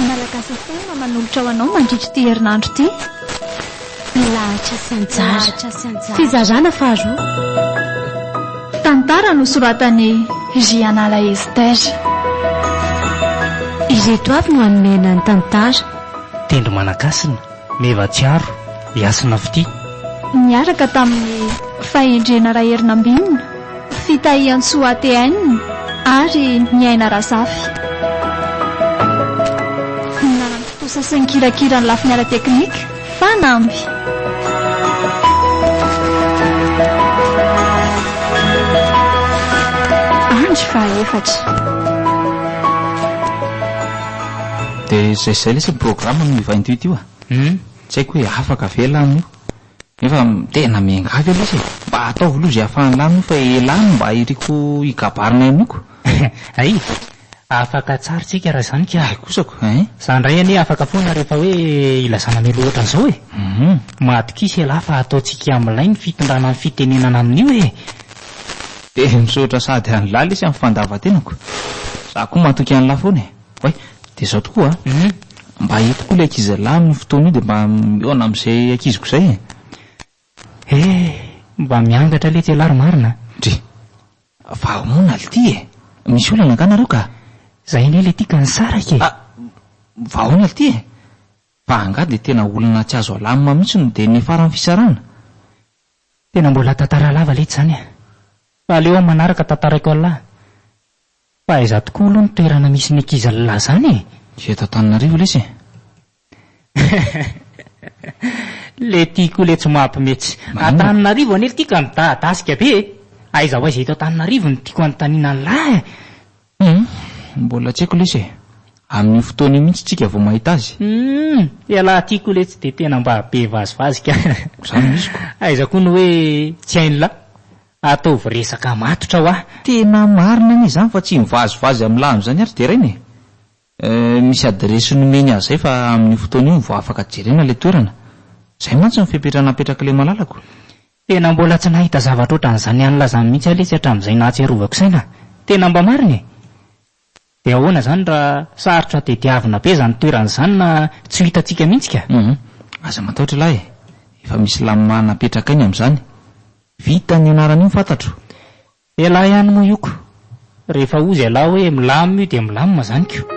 Malagasy FM no manolotra ho anao mandritra ity herinandro ity. Lahatra sy anjara. Fizarana faharoa. Tantara nosoratan'i Jianala Esther. Ireto avy no hanome anay ny tantara. Tendro Manakasina. Meva Tsiaro, i Hasina Fitia. Niaraka tamin'ny fahendrena Raherinambinina, Fitahiantsoa ATN ary ny Aina Razafy. Ny nanam-pitonsa sy ny kirakira ny lafiny ara-teknika, fanamby. Andry faha efatra. De zay zay lesy ny programme ny vingt huit io a? Humm tsy haiko hoe afaka ve lany io? Nefa tena miangavy aloha lesy e! Mba ataovy aloha ze afahan'ny lany io fa elah no mba iriko hikabarina henoko. Hay! Afaka atsary tsika raha zany ka! Hay kosa ko ein! Za ndray anie afaka foana rehefa hoe ilazana mialoha otran'zao e! Humm. Madkisy elah fa ataontsika milay ny fitondrana ny fitenenana amin'io e! Dia misaotra sady an'lah lesy amin'ny fandavan-tenako. Za koa matoky an'lah foana e! Oay, dia zao tokoa a! mba aheto koa ilay ankizilahy amin'io fotoana io dia mba mihaona amin'izay ankiziko izay e! Hey! mba miangatra letsy ialahy ry marina a! Ndry! fa ahoana ly ity e! misy olana angaha nareo ka? Zay anie ilay tika nisaraka e! Ah! fa ahoana ly ity e! fa angaha dia tena olana tsy azo alamina mihitsy no dia niafaran'ny fisarahana? Tena mbola tantara lava letsy izany a! fa aleo amin'ny manaraka tantaraiko ialahy! Fa aiza tokoa aloha ny toerana misy ny ankizy lahy zany e? Tsy eto Antananarivo lesy e! Le ty koa le tsy mampme tsy. Antananarivo anie ty ka midadasika be e! Aiza ho aiza eto Antananarivo no tiako anontaniana ny lahy e! Humm! Mbola tsy haiko lesy e! Amin'io fotoana io mihitsy tsika vao mahita azy. Humm! Ialahy ty koa le tsy de tena mba be vazivazy ka! Zany no izy ko! Aiza koa no hoe tsy hain'ny lahy? Ataovy resaka matotra hoa. Tena marina anie izany fa tsy mivazivazy amin'ny lany izany ary deraina e! Euh, misy adiresy nomeny azy izay fa amin'io fotoana io no vao afaka jerena ilay toerana. Izay mantsy no fepetra napetrak'ilay malalako. Tena mbola tsy nahita zavatra ohatran'izany ihany lazany mihitsy aho lesy hatramin'izay nahatsiarovako saina. Tena mba marina e! Dia ahoana izany raha sarotra tadiavina be izany toerana izany na tsy ho hitantsika mihitsy ka? Humm, aza matahotra lahy e, efa misy lamina napetrakay ny amin'izany. Vita ny anaran'io fantatro. Elah ihany moa io ko. Rehefa hozy elah hoe milam io dia milamina izany ko.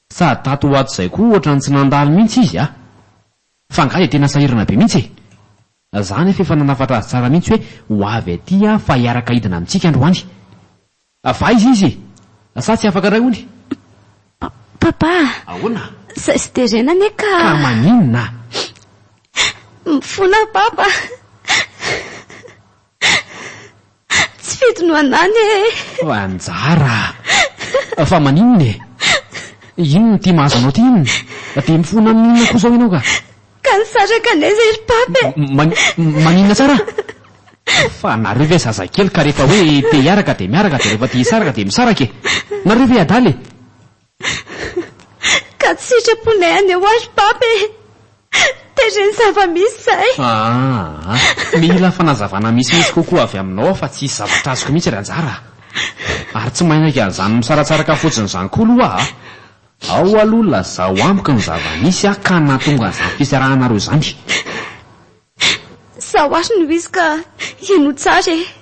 Sady tato ho ato izay koa ohatran'ny tsy nandalo mihitsy izy a! Fa angaha dia tena sahirana be mihitsy e! Za anefa efa nanafatra azy tsara mihitsy hoe ho avy aty aho fa hiaraka hidina amintsika androany. Fa aiza izy? Sa tsy afaka indray hono? Papa! Ahoana? Izay tsy terena anie ka! Ka maninona? Mifona Papa! Tsy fidy no anany ee. Anjara a! Fa maninona e? Inona ity mahazo anao ity inona? Dia mifona amin'ny inona koa izao ianao ka? Ka nisaraka anay izay ry Pape e! Mani, maninona tsara? Fa nareo ve zazakely ka rehefa hoe te hiaraka dia miaraka dia rehefa te hisaraka dia misaraka e! Nareo ve adala e? Ka tsy sitraponay any ho ahy Pape e! Tezitra ny zava-misy izay. Aa! Mila fanazavana misimisy kokoa avy aminao aho fa tsy hisy zavatra azoko mihitsy ry anjara a! Ary tsy mainaiky an'izany misaratsaraka fotsiny izany koa aloha aho a! Ao aloha lazao amiko ny zava-nisy a ka nahatonga an'izany fisarahanareo izany. Izaho ary no izy ka ianao tsara e!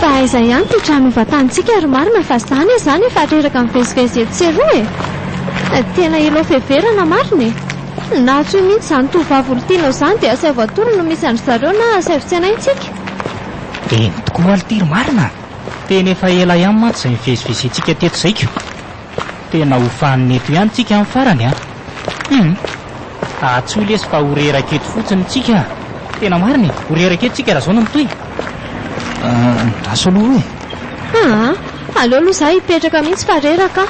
Fa aiza ihany ity trano hovatantsika ry marina fa zany aza any efa reraka mivezivezy etsy sy eroa e! Tena elo fiheverana marina e! Na tsy io mihitsy izany tovovavy olon-tianao izany dia asaivo atoro no misy an-dry zareo na asaivo tsenaintsika! Eny tokoa aloha ity ry marina a! Tena efa ela ihany mantsy izay nivezivezentsika teto izay ko! Tena ho fanina eto ihany tsika an farany an! Hum! Ahatsoy lesy fa ho reraka eto fotsiny tsika an! Tena marina e! Ho reraka eto tsika raha zao no mitohy! Andraso aloha e! Aa! Aleo aloha za hipetraka mihitsy fa reraka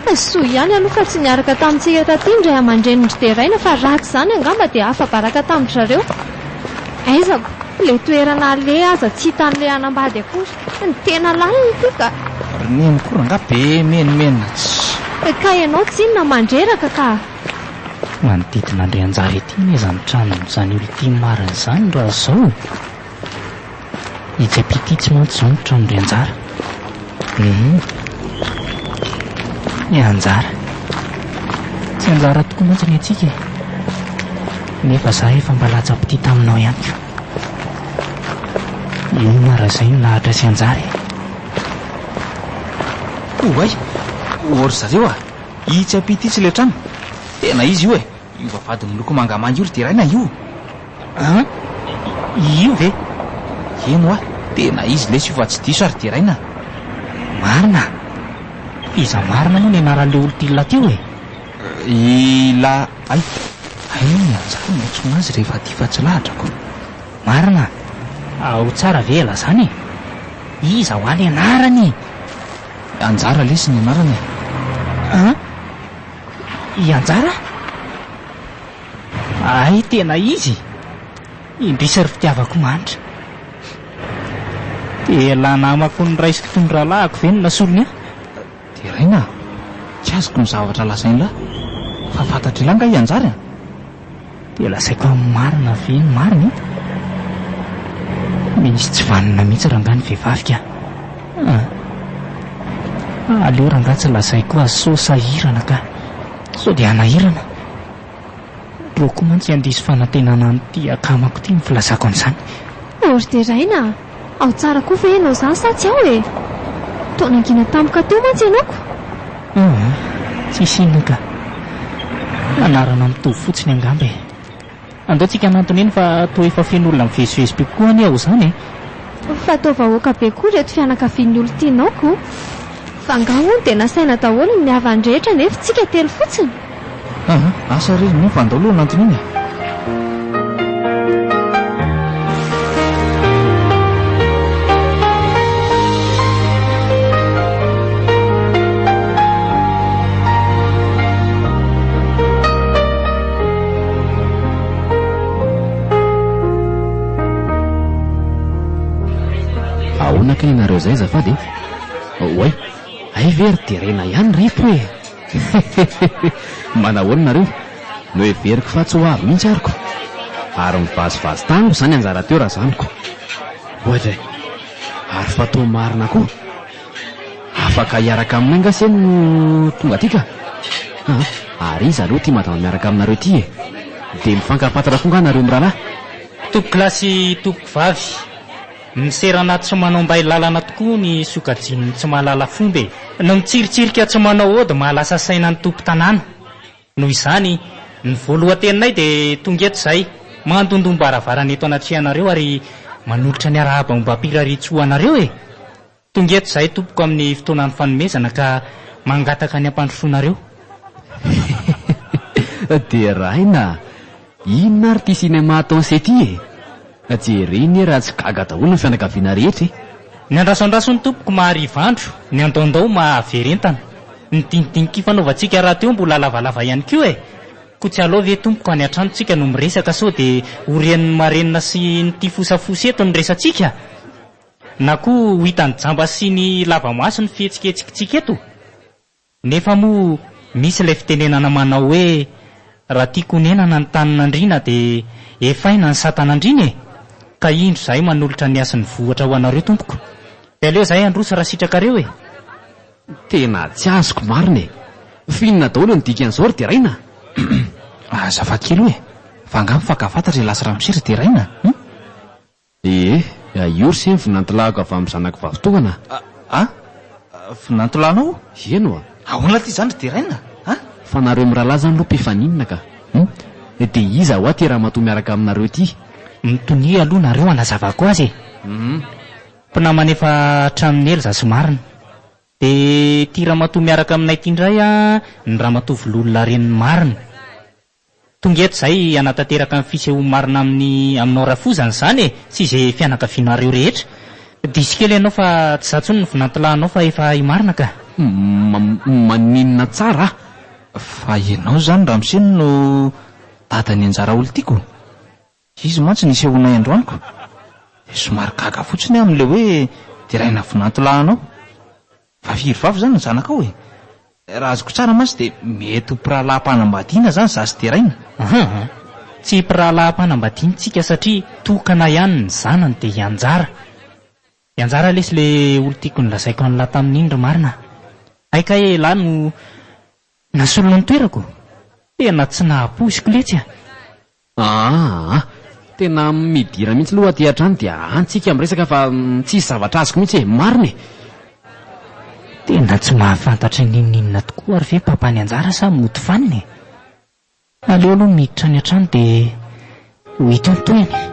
aho! Soa ihany aloha fa tsy niaraka tamintsika taty ny ray aman-drenin-dry Deraina fa raha tsy izany angamba dia afa-baraka tamin-dry zareo! Aizako! Ilay toerana aleha aza tsy hitan'ilay hanambady akory! Tsy ny tena lalina ity ka. Ry neny koa rangah be menomenona tsy. Ka ianao tsinona mandreraka ka. Manodidina Andrianjara ity anie izany tranon'izany Ultime marina izany raha izao e. I Jepititsy mantsy izao ny tranondrianjara. Hum. Ny anjara. Tsy anjara tokoa mantsy ny antsika e. Nefa zah efa mba latsa-pitia taminao ihany koa. Inona raha izay no lahatra sy hanjary e? Oay! Ô ry zareo a! Itsy ampita itsy ilay trano. Tena izy io e! Io vavahady miloko mangamanga io ry Deraina io! An! Io ve? Eny hoa! Tena izy lesy io fa tsy diso aho ry Deraina! Marina! Iza marina moa ny anaran'ilay olon-tiana teo e? Ila ay! Aia ny anjara no antsoina azy rehefa aty fa tsy lahatra ko! Marina a! Ao tsara ve ela zany e! Iza hoa le anarany e! Anjara lesy ny anarany e! An! I Anjara? Ay tena izy e! Indrisy ry fitiavako manitra! Ela namako noraisiko tondralahiko ve no nasolony ahy? Deraina a! Tsy azoko ny zavatra lazain'lah, fa fantatr'ilah nga hianjary a! Dia lazaiko amin'ny marina ve ny marina e! Misy tsy vanona mihitsy rangah ny vehivavy ka! Ahh! Aleo rangah tsy lazaiko azy sao sahirana ka! Sao dia hanahirana! Boky mantsy handiso fanantenana an'ity akamako ity ny filazako an'izany. Hery deraina a! Ao tsara koa ve ianao izany sa tsy ao e? Toa nangina tampoka teo mantsy ianao ko! Aa, tsisy inona ka! Anarana mitovy fotsiny angamba e! Andao tsika hanantona eny fa toa efa feno olona mivezivezy be kokoa anie ao izany e! Fa toa vahoaka be koa ireto fianakavian'ny olon-tianao ko! Fa angaha hono dia nasaina daholo ny havan'ny rehetra nefa tsika telo fotsiny? Aha, asa re, nefa andao aloha hanantona iny e! Ahoana kay ianareo izay azafady e? Oay, hay ve ry Terena ihany ireto e! Hehehehe! Manahoana nareo? Noheveriko fa tsy ho avy mihitsy arko. Ary mivazivazy tany moa izany anjara teo razaniko. Oadray! Ary fa toa marina koa. Afaka hiaraka aminay nga se no tonga aty ka? Aa! Ary iza aloha ity madama miaraka aminareo ity e? Dia mifankafantatra koa nga nareo mirahalahy? Tompoko lahy sy tompoko vavy. Miserana tsy manao mbay lalana tokoa ny sokajian'ny tsy mahalala fomba e! Ny mitsiritsirika tsy manao ody mahalasa saina ny tompon-tanàna. Noho izany, ny voalohan-teninay dia tonga eto izahay, mandondom-baravarana eto anatrehanareo ary manolotra ny arahaba ombam-pirarian-tsoa anareo e! Tonga eto izahay tompoko amin'ny fotoanan'ny fanomezana ka mangataka ny hampandrosoanareo. Deraina a! Inona ary ity sinema ataon'i Seth ity e? Jereo anie raha tsy gaga daholo ny fianakaviana rehetra e! Ny andrasandraso ny tompoko mahariva andro, ny andaondao mahaverentana. Ny dinidinika ifanaovantsika rahateo mbola lavalava ihany koa e! Koa tsy aleo ve tompoko any an-tranontsika no miresaka sao dia ho ren'ny marenina sy ny tia fosafosy eto ny resatsika? Na koa ho hitan'ny jamba sy ny lava-maso ny fihetsiketsikitsika eto? Nefa moa misy ilay fitenenana manao hoe raha tiako honenana ny tanin'andriana dia efaina ny satan'andriana e! Ka indro izahay manolotra ny hasin'ny vohitra ho anareo tompoko. Dia aleo izahay handroso raha sitrakareo e! Tena tsy azoko marina e! F'inona daholo ny dikan'izao ry Deraina? Azafady kely oe! Fa angaha mifankahafantatra i Lasy Ramose ry Deraina? Hum? Ee, i Ours iny vinantolahiko avy amin'ny zanako vavitohana a! A! A! Vinantolanao? Eny oa! Ahoana ity izany ry Deraina a? Fa nareo mirahalahy izany aloha mpifaninana ka! Hum! Dia iza oa ity ramatoa miaraka aminareo ity? Mitonia aloha nareo hanazavako azy e! Hum! Mpinamana efa hatramin'ny ela za sy Marina. Dia ity ramatoa miaraka aminay ity indray an, ny ramatoa Vololona renin'i Marina. Tonga eto izahay hanatanteraka ny fisehoa marina amin'ny aminao rafozana izany e! sy izay fianakavianareo rehetra. Diso kely ianao fa tsy za intsony no vinantilahinao fa efa hay marina ka! Mmm maninona tsara ah! Fa ianao izany ramose no dadan'ny anjara olon-tiako? Izy mantsy nisehoanay androany-ko, dia somary gaga fotsiny aho amin'ilay hoe deraina vinantolahinao. Fa firy vavy izany ny zanakao e? Raha azoko tsara mantsy dia mety ho mpirahalaham-panambadiana izany za sy deraina. Ahaa, tsy mpirahalaham-panambadian-tsika satria tokana ihany ny zanany dia hianjara. Hianjara lesy ilay olon-tiako nolazaiko an'lah tamin'iny ry marina a! Hay kay e, lah no nasolony ny toerako? Tena tsy nahapoiziko letsy a! Aa! Tena midira mihitsy loha aty hatrany dia any tsika miresaka fa tsisy zavatra azoko mihitsy e! Marina e! Tena tsy mahafantatra n'inon'inona tokoa ary ve papa ny anjara sa mody fanina e! Aleo aloha miditra any an-trano dia ho hitantohina e!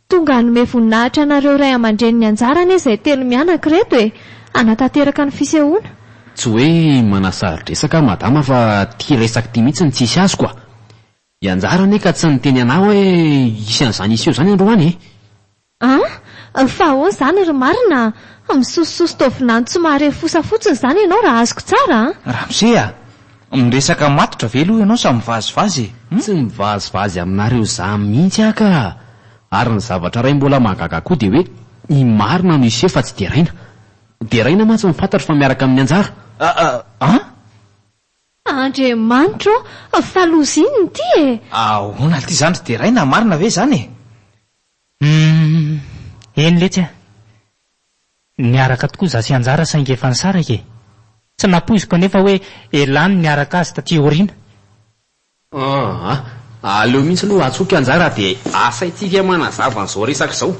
Tonga hanome voninahitra anareo ray aman-dreny ny anjara anie izay telo mianaka ireto e! Hanatanteraka ny fisehoana. Tsy hoe manasaro-dresaka aho madama fa ity resaka ity mihitsy no tsy hisy azoko a! I Anjara anie ka tsy niteny anah hoe hisy an'izany hiseho izany androany e! An! Fa ahoana izany ry marina a! Misosososy taovinany tsy mahare fosa fotsiny izany ianao raha azoko tsara a! Ramose a! Miresaka matotra ve aloha ianao sa mivazivazy e? Hum. Tsy mivazivazy aminareo zah mihitsy aho ka! Ary ny zavatra iray mbola mahagaga koa dia hoe ny marina no hiseho fa tsy deraina. Deraina mantsy ny fantatro fa miaraka amin'ny anjara. An? Andriamanitro ô! Fa loza inona ity e? Ahoana lty izany ry deraina, marina ve izany e? Hum, eny letsy a! Niaraka tokoa izaho sy Anjara saingy efa nisaraka e! Tsy nampoiziko anefa hoe elah ny niaraka azy taty aoriana. Aa, aleo mihitsy aloha atsoiko Anjara dia asaintsika manazava an'izao resaka izao.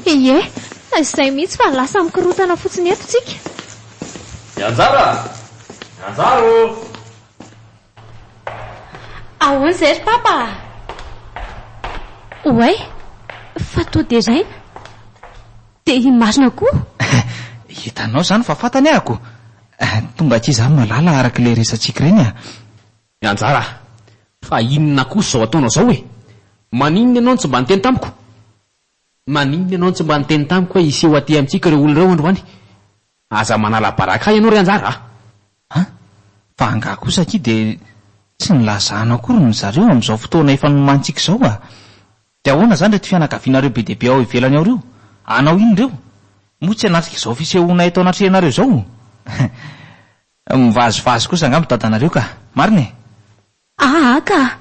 Ie, izay mihitsy fa lasa mikorontana fotsiny eto tsika. I Anjara a! Anjara ô! Ahoana izay ry Papa a! Oay! Fa toa deraina! Dia iny marina koa! Hitanao izany fa fantany aho ko! Tonga aty izaho malala araka ilay resatsika ireny a! Mianjara a! Fa inona kosa izao ataonao izao e! Maninona ianao no tsy mba niteny tamiko? Maninona ianao no tsy mba niteny tamiko hoe hiseho aty amintsika ireo olona ireo androany? Aza manala baraka ahy ianao ry anjara a! A! Fa angaha kosa akia dia tsy nilazana akory ny zareo amin'izao fotoana efa nomanintsika izao a! Dia ahoana izany ireto fianakavianareo be dia be ao ivelany ao ireo? Hanao inona ireo? Moa tsy hanatrika izao fisehoana eto anatrehanareo izao? Mivazivazy kosa angamba dadanareo ka! Marina e! Haa ka!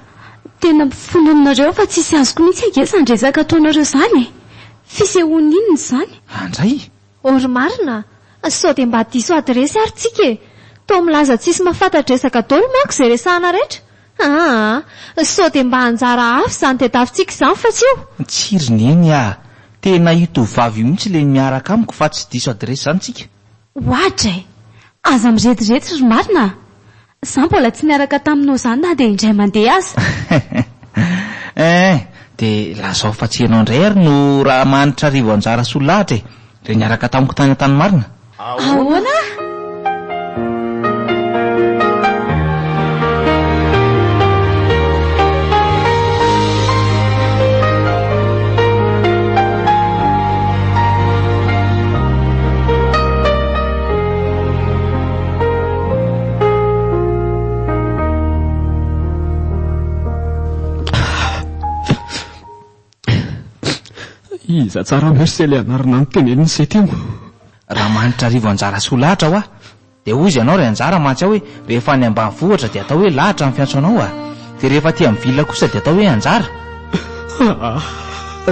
Tena mpifononinareo fa tsisy azoko mihitsy ange izany resaka ataonareo izany e! Fisehoana inona izany? Andray! Oh ry marina a! Sao dia mba diso adiresy ary tsika e! Toa milaza tsisy mahafantatresaka daolo manko izay resahana rehetra! Aa! Sao dia mba anjara hafa izany tedavitsika izany fa tsy io! Tsia ry neny aa! Tena io tovovavy io mihitsy ilay miaraka amiko fa tsy diso adiresy izany tsika! Ohatra e! Aza mirediredy ry marina a! Za mbola tsy niaraka taminao zany na dia indray mandeha aza. Eeh, dia lazao fa tsy ianao indray ary no Rahamanitra Rivoanjara Solahatra e, ilay niaraka tamiko tany Antanimarina? Ahoana? Iza tsara merci ilay anarana notenenin'i Setemo. Raha manitra arivo anjara soa lahatra hoa. Dia hoy izy ianao ry anjara mantsy aho hoe rehefa any ambanivohitra dia atao hoe lahatra ny fiantsoanao a. Dia rehefa aty amin'ny ville kosa dia atao hoe anjara? Aa!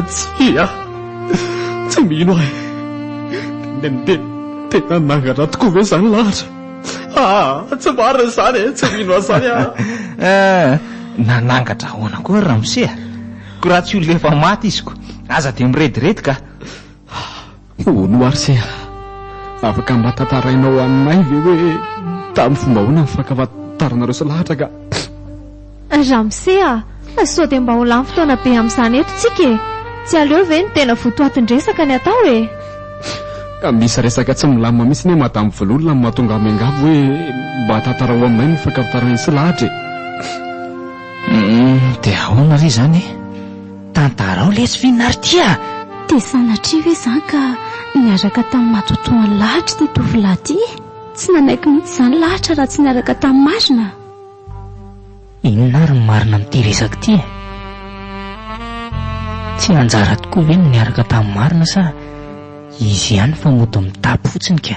Tsia! Tsy mino aho e! Dia tena anangana tokoa ve izany lahatra? Aa! Tsy marina izany e! Tsy mino an'izany aho! Nanangatra ahoana koa ry ramose a! Koa raha tsy olona efa maty izy koa aza dia mirediredy kah! Ô Noircea, afaka mba tantarainao aminay ve hoe tamin'ny fomba ahoana ny fankafantaranareo sy lahatra ka? Ramose a, sao dia mba ho lany fotoana be amin'izany eto tsika e! Tsy aleo ve ny tena votoatin-dresaka ny atao e? Misy resaka tsy milamina mihitsy anie Madame Vololona no mahatonga ahy miangavy hoe mba tantarao aminay ny fankafantaranay sy lahatra e! Dia ahoana re izany e? Tantarao lesy Finarty a! Dia sanatria ve izany ka niaraka tamin'ny matoatoany lahatra ity tovolahy ity e? Tsy nanaiky mihitsy izany lahatra raha tsy niaraka tamin'ny marina. Inona ary ny marina amin'ity resaka ity e? Tsy anjara tokoa ve ny niaraka tamin'ny marina sa izy ihany fa mody mitapy fotsiny ka?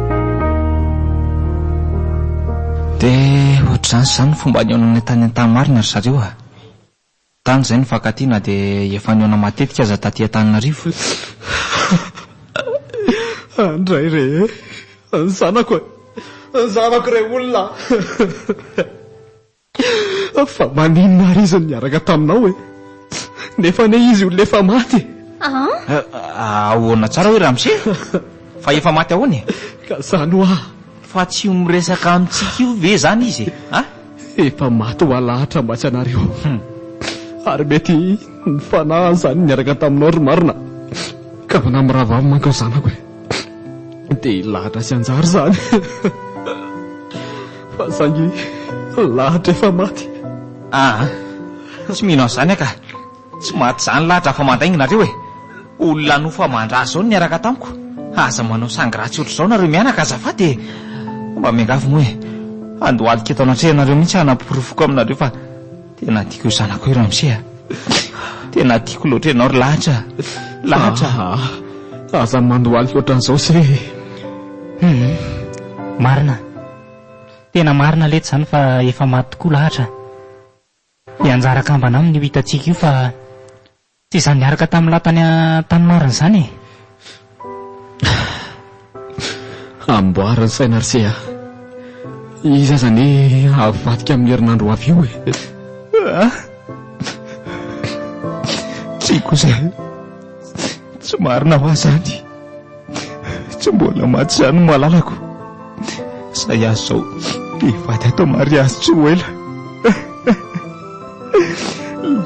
Dia ohatr'izany sy izany ny fomba nihaonanay tany Antahamarina ry zareo a! Tany izay nifankatia na dia efa nihaona matetika aza taty Antananarivo. Andray re e! Ny zanako e! Ny zanako re olona a! Fa maninona ary izy no niaraka taminao e? Nefa anie izy olona efa maty e! Ah! Ahoana tsara hoe ramose? Fa efa maty ahoana e? Ka izany hoa! Fa tsy ho miresaka amintsika io ve izany izy e? Efa maty ho alahatra mantsy ianareo. Ary mety ny fanahy izany niaraka taminao ry marina ka manahy mirahavavy manko ny zanako e! dia hilahatra sy hanjary izany fa zangy lahatra efa maty aa ah, tsy mino an'izany aka tsy maty izany lahatra fa mandainginareo e olona nofa mandra zao niaraka tamiko aza manao sangratsy ohatr'izao nareo mianaka azafady e mba miangavy moa e andohalika eto anatrehanareo mihitsy hanaporofoko aminareo fa Tena tiako io zanako io Ramsey a. Tena tiako loatra ianao ry lahatra. Lahatra. Ah, aza mandohaly loatra an'izao se. Hmm. Marina. Tena marina lety izany fa efa maty tokoa lahatra. Hianjara kambana aminy io hitantsika io fa Tsy izany niaraka tamin'ny lahy tany tany marina izany e! Amboary ny saina ry se a! Izy aza anie havadika amin'ny herinandro ho avy io e! Tsia kosa, tsy marina hoa izany. Tsy mbola maty izany malalako. Izay azy izao hivady ato mariazy tsy ho ela.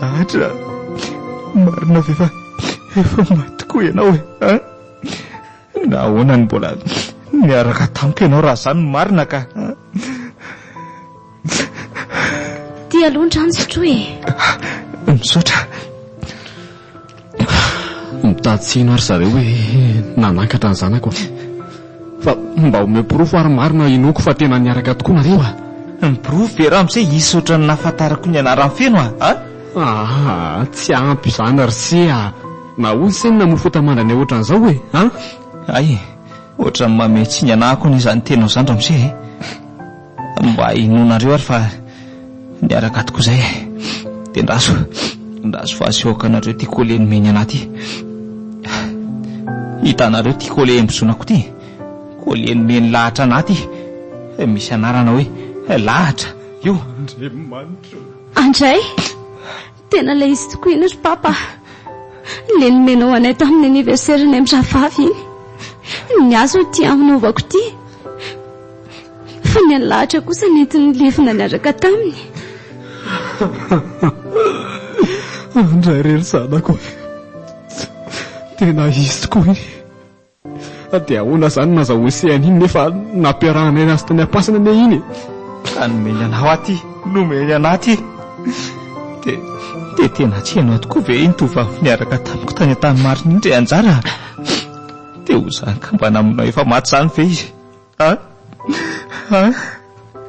Lahatra, marina ve fa efa maty koa ianao e? Nahoana no mbola niaraka tamiko ianao raha izany no marina ka? Ty aloha ny rano sotroy e. Misaotra. Mitady tsino ary zareo hoe nanankatra ny zanako. Fa mba omeo porofo ary marina inoako fa tena niaraka tokoa nareo a. Ny porofo ve Ramose hisy ohatran'ny nahafantarako ny anarany feno a? Ah, tsy ampy izany ry se a. Nahoana se no namofota mandranay ohatran'izao hoe a? Hay e, ohatran'ny mamehy tsy ny anahako anie izany teninao izany Ramose e. Mba inoanareo ary fa niaraka tokoa izay e. Dia andraso, andraso fa aseho akanareo ity colle nomeny anah ity. Hitanareo ity colle embozonako ity? Colle nomeny lahatra anah ity. Misy anarana hoe lahatra io. Andriamanitra o! Andray! Tena ilay izy tokoa iny ry Papa a! Ilay nomenao anay tamin'ny anniversaire ny an'ny rahavavy iny. Ny ahy izao ity hanaovako ity fa ny an'i Lahatra kosa nentiny lefona niaraka taminy. Andray re ry zanako a! Tena izy tokoa iny. Fa dia ahoana izany no nazahoan'ise an'iny nefa nampiarahanay azy tany am-pasana anie iny e! Ka nomeny anao aty, nomeny anà aty. Dia dia tena tsy ianao tokoa ve iny tovovavy niaraka tamiko tany Antanimarina iny ry Anjara? Dia ho izany ka mba namonoana efa maty izany ve izy?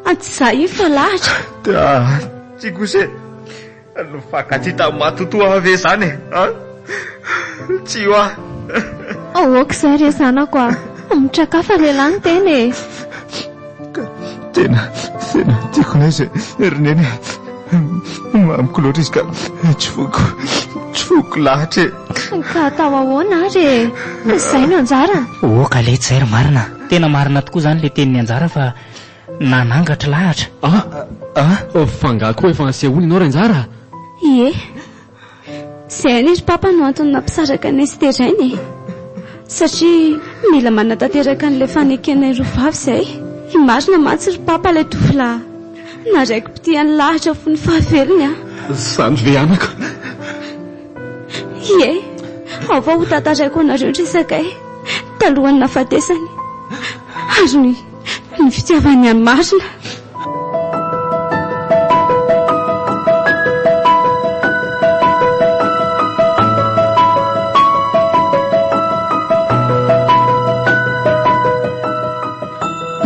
An tsy za io fa lahatra. Tsy kosa e, nifankatia tamin'ny matotoa ve zany e? Tsy io ah. Aoka izay re zanako ah, mitrakafa lehilahy ny tena e. Tena, tena tiako ne zay ry neny e. Mamiko loatra izy ka tsy voiko, tsy voiko lahatra e. Ka atao ahoana ary e? Izay no anjarany. Oh ka letsy izay ry marina. Tena marina tokoa izany ilay tenin'i Anjara fa nanangatra lahatra. Ah! Ah! Fa angaha koa efa asehoinao ry Anjara? Ie. Tsy hainy ry Papa no antony nampisaraka anay sy Terraine e! Satria mila manatanteraka an'ilay fanekenay roa vavy izay. I Marina mantsy ry Papa ilay tovolahy na raiki-pitia nilahatra fo ny fahavelony an! Izany ve anako? Ie, ao fa hotantaraiko anareo ny resakay talohan'ny nahafatesany ary ny. Ny fitiavany an'i Marina.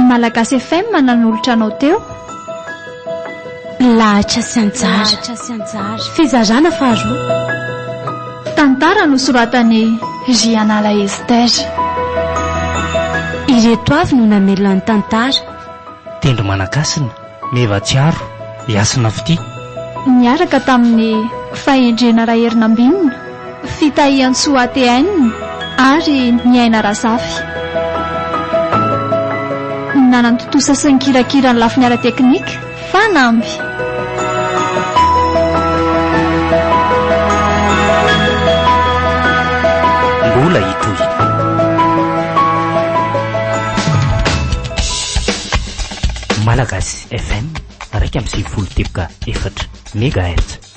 Malagasy FM nanolotra anao teo. Lahatra sy anjara. Fizarana faharoa. Tantara nosoratan'i Jianala Esther. Ireto avy no namelona ny tantara. Tendro Manankasina, Meva Tsiaro, Yasina Fitia. Niaraka tamin'ny fahendrena Raherinambinina. Fitahiantsoa ATN ary Niaina Razafy. Nanantontosa sy nikirakira ny lafiny ara-teknika fanamby. Mbola hitohina. Malagasy FM, iraika amby sivifolo teboka efatra megahertz.